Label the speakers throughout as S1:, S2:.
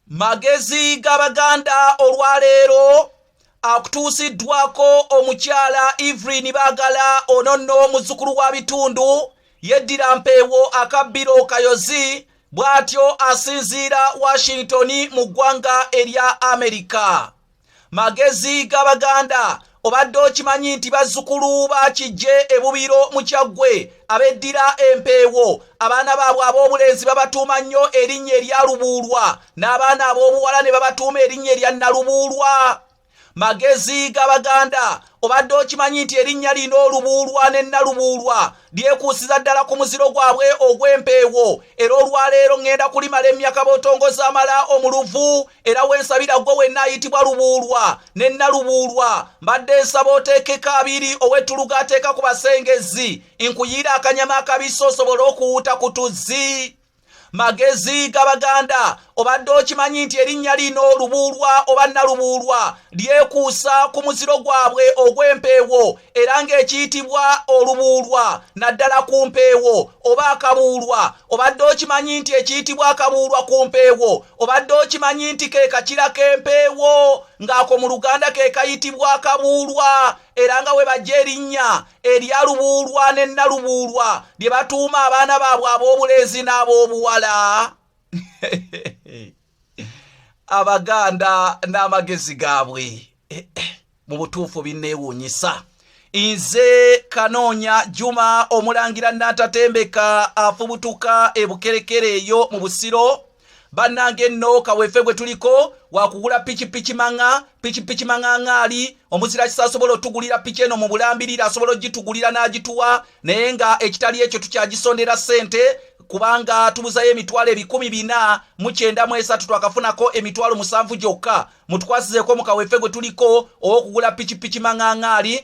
S1: magezi g'abaganda olwaleero akutuusiddwako omukyala evelyn bagala ono nno omuzzukulu wa bitundu yeddira mpeewo akabbiro kayozi bw'atyo asinziira washington mu ggwanga erya amerika magezi g'abaganda obadde okimanyi nti bazzukulu bakijje ebubiro mu kyaggwe abeddira empeewo abaana baabwe ab'obulenzi babatuuma nnyo erinnya erya lubuulwa n'abaana ab'obuwala ne babatuuma erinnya erya nalubuulwa magezi g'abaganda obadde okimanyi nti erinnya lino olubuulwa ne nalubuulwa lyekuusiza ddala ku muziro gwabwe ogw'empeewo era olwaleero ŋŋenda kulimala emyaka bootongoza amala omuluvu era wensabira ggwe wenna ayitibwa lubuulwa ne nalubuulwa mbadde nsaba oteekeko abiri ow'ettuluga ateeka ku basengezi nkuyiira akanyama akabisi osobole okuwuuta ku tuzzi magezi g'abaganda obadde okimanyi nti erinnya lino lubuulwa oba nalubuulwa lyekuusa ku muziro gwabwe ogw'empeewo era ng'ekiyitibwa olubuulwa naddala ku mpeewo oba akabuulwa obadde okimanyi nti ekiyitibwa akabuulwa ku mpeewo obadde okimanyi nti ke kakira k'empeewo ng'ako mu luganda ke kayitibwa akabuulwa era nga we bajja erinnya erya lubuulwa ne nalubuulwa lye batuuma abaana baabwe ab'obulenzi n'ab'obuwala abaganda n'amagezi gaabwe eh, eh, mu butuufu binneewuunyisa nze kanoonya juma omulangira nnatatembeka afubutuka ebukerekere eyo mu busiro bannange enno kaweefe gwe tuliko wakugula pikipiki maŋa pikipiki maŋaŋaali omuzira kisa asobola otugulira piki eno mu bulambirira asobola ogitugulira n'agituwa naye nga ekitali ekyo tukyagisondera ssente kubanga tubuzayo emitwalo ebikumi bina mukyenda mu esatu twakafunako emitwalo musanvu gyokka mutukwasizeeko mu kaweefe gwe tuliko ow'okugula pikipiki maŋaŋaali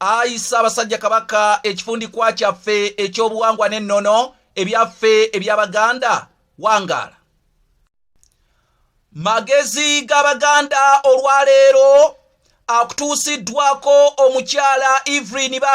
S1: ayi ssaabasajja kabaka ekifundikwa kyaffe ekyobuwangwa n'ennono ebyaffe eby'abaganda wangaala magezi g'abaganda olwaleero akutuusiddwako omukyala evelyn ba